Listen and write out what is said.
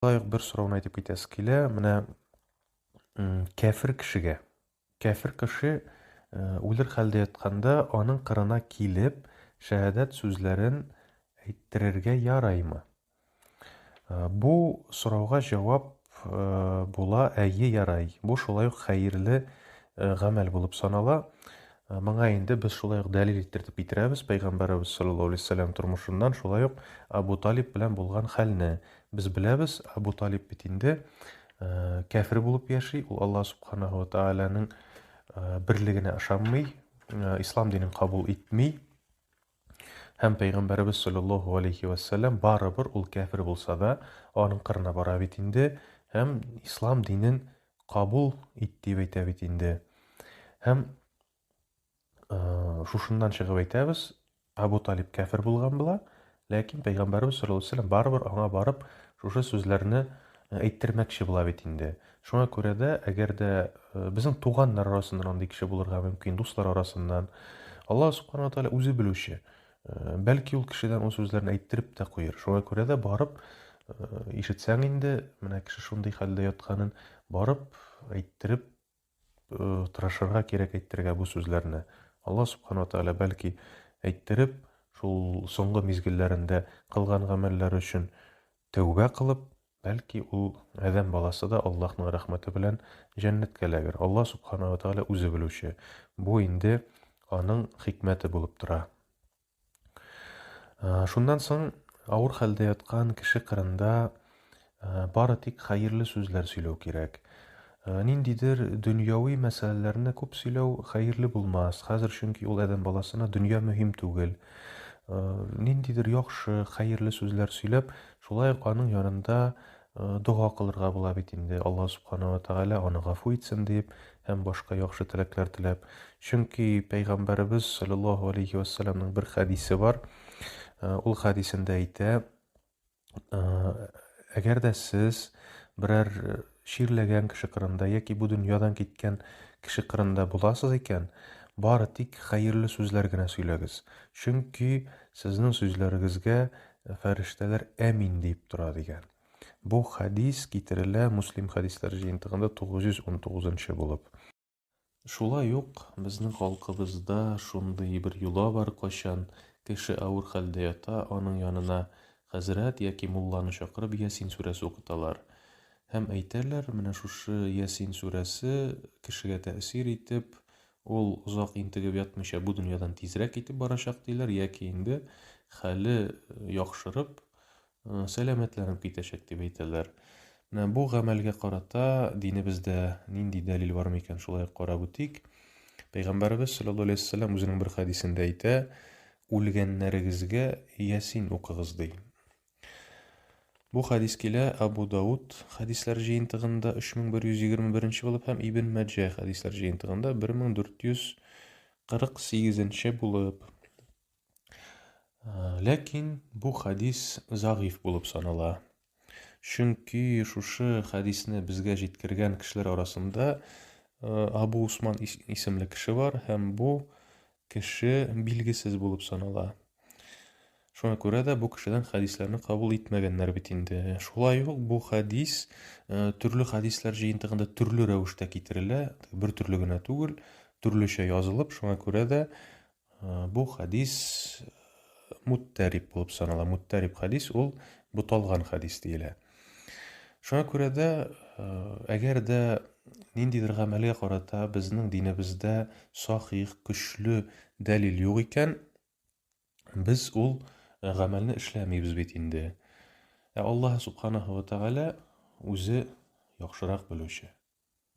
Лайык бер сорауны әйтеп китәсе килә. Менә кәфер кешегә. Кәфер кеше үлер хәлдә ятканда аның кырына килеп, шәһадәт сүзләрен әйттерергә яраймы? Бу сорауга җавап була, әйе, ярай. Бу шулай ук хәерле гамәл булып санала. Моңа инде без шулай ук дәлил иттереп китерәбез пәйгамбәребез саллаллаһу алейһи вәсәлләм тормышыннан, шулай ук Абу Талиб белән булган хәлне. Без беләбез, Әбу Талиб бит инде кәфер булып яши, ул Аллаһ субханаһу ва тааляның берлегенә ышанмый, ислам динен кабул итми. Һәм пәйгамбәребез саллаллаһу алейхи ва саллям барыбер ул кәфер булса да, аның кырына бара бит инде һәм ислам динен кабул ит дип әйтә бит инде. Һәм Э, шушыннан чыгып әйтәбез, Абу Талиб кәфер булган була, ләкин пәйгамбәрбез саллаллаһу алейһи барыбер аңа барып шушы сүзләрне э, әйттермәкче була бит инде. Шуңа күрә дә, әгәр дә э, безнең туганнар арасыннан андый кеше булырга мөмкин, дуслар арасыннан, Аллаһ субхана ва тааля үзе белүче. Бәлки ул кешедән ул сүзләрне әйттереп тә куер. Шуңа күрә дә барып ишетсәң инде, менә кеше шундый хәлдә ятканын, барып әйттереп тырышырга кирәк әйтергә бу сүзләрне. Алла Субхану ва Тәгалә бәлки әйттереп, шул соңгы мизгелләрендә кылган гамәлләре өчен тәүбә кылып, бәлки ул Адәм баласы да Аллаһның рәхмәте белән җәннәткә эләгер. Алла Субхану ва Тәгалә үзе белүче. Бу инде аның хикмәте булып тора. Э, шуннан соң авыр хәлдә яткан кеше кырында э, бары тик хәерле сүзләр сөйләү кирәк. Э, ниндидер дөньяви мәсьәләләрне күп сөйләү хәерле булмас. Хәзер чөнки ул адәм баласына дөнья мөһим түгел. Ниндидер яхшы, хәерле сүзләр сөйләп, шулай ук аның янында Дога кылырга була бит инде, Алла Субхана уә Тәгалә аны гафу итсен диеп һәм башка яхшы теләкләр теләп. Чөнки Пәйгамбәребез саллаллаһу алейхи вә сәлләмнең бер хәдисе бар. Ул хәдисендә әйтә, әгәр дә сез берәр чирләгән кеше кырында яки бу дөньядан киткән кеше кырында буласыз икән, бары тик хәерле сүзләр генә сөйләгез. Чөнки сезнең сүзләрегезгә фәрештәләр әмин диеп тора дигән. Бу хәдис китерелә Муслим хәдисләр җыентыгында 919 булып. Шулай ук безнең халкыбызда шундый бер йола бар, кайчан кеше авыр хәлдә ята, аның янына хәзрәт яки мулланы чакырып Ясин сүрәсе укыталар. Һәм әйтәләр, менә шушы Ясин сүрәсе кешегә тәэсир итеп, Ул озак интегеп ятмыйча бу дөньядан тизрәк китеп барачак диләр, яки инде хәле яхшырып, сәламәтләнеп китәчәк дип әйтәләр. Менә бу гамәлгә карата динебездә нинди дәлил бар микән, шулай ук карап үтик. Пәйгамбәребез саллаллаһу алейһи ва саллям үзенең бер хәдисендә әйтә, үлгәннәрегезгә Ясин укыгыз ди. Бу хәдис килә Абу Дауд хәдисләр җыентыгында 3121 булып һәм Ибн Мәҗә хәдисләр җыентыгында 1448 булып. Ләкин бу хәдис загыйф булып санала. Чөнки шушы хәдисне безгә җиткергән кешеләр арасында Абу Усман исемле кеше бар һәм бу кеше билгесез булып санала. Шуңа күрә дә бу кешедән хәдисләрне кабул итмәгәннәр бит инде. Шулай ук бу хәдис э, төрле хәдисләр җыентыгында төрле рәвештә китерелә, бер төрле генә түгел, төрлечә язылып, шуңа күрә дә э, бу хәдис э, муттәрип булып санала. Муттәрип хәдис ул буталган хәдис диелә. Шуңа күрә дә, э, әгәр дә ниндидер гамәлгә карата безнең динебездә сахих, көчле дәлил юк икән, без ул э, гамәлне эшләмибез бит инде. Ә Аллаһ субханаһу ва тәгалә үзе яхшырак белүче.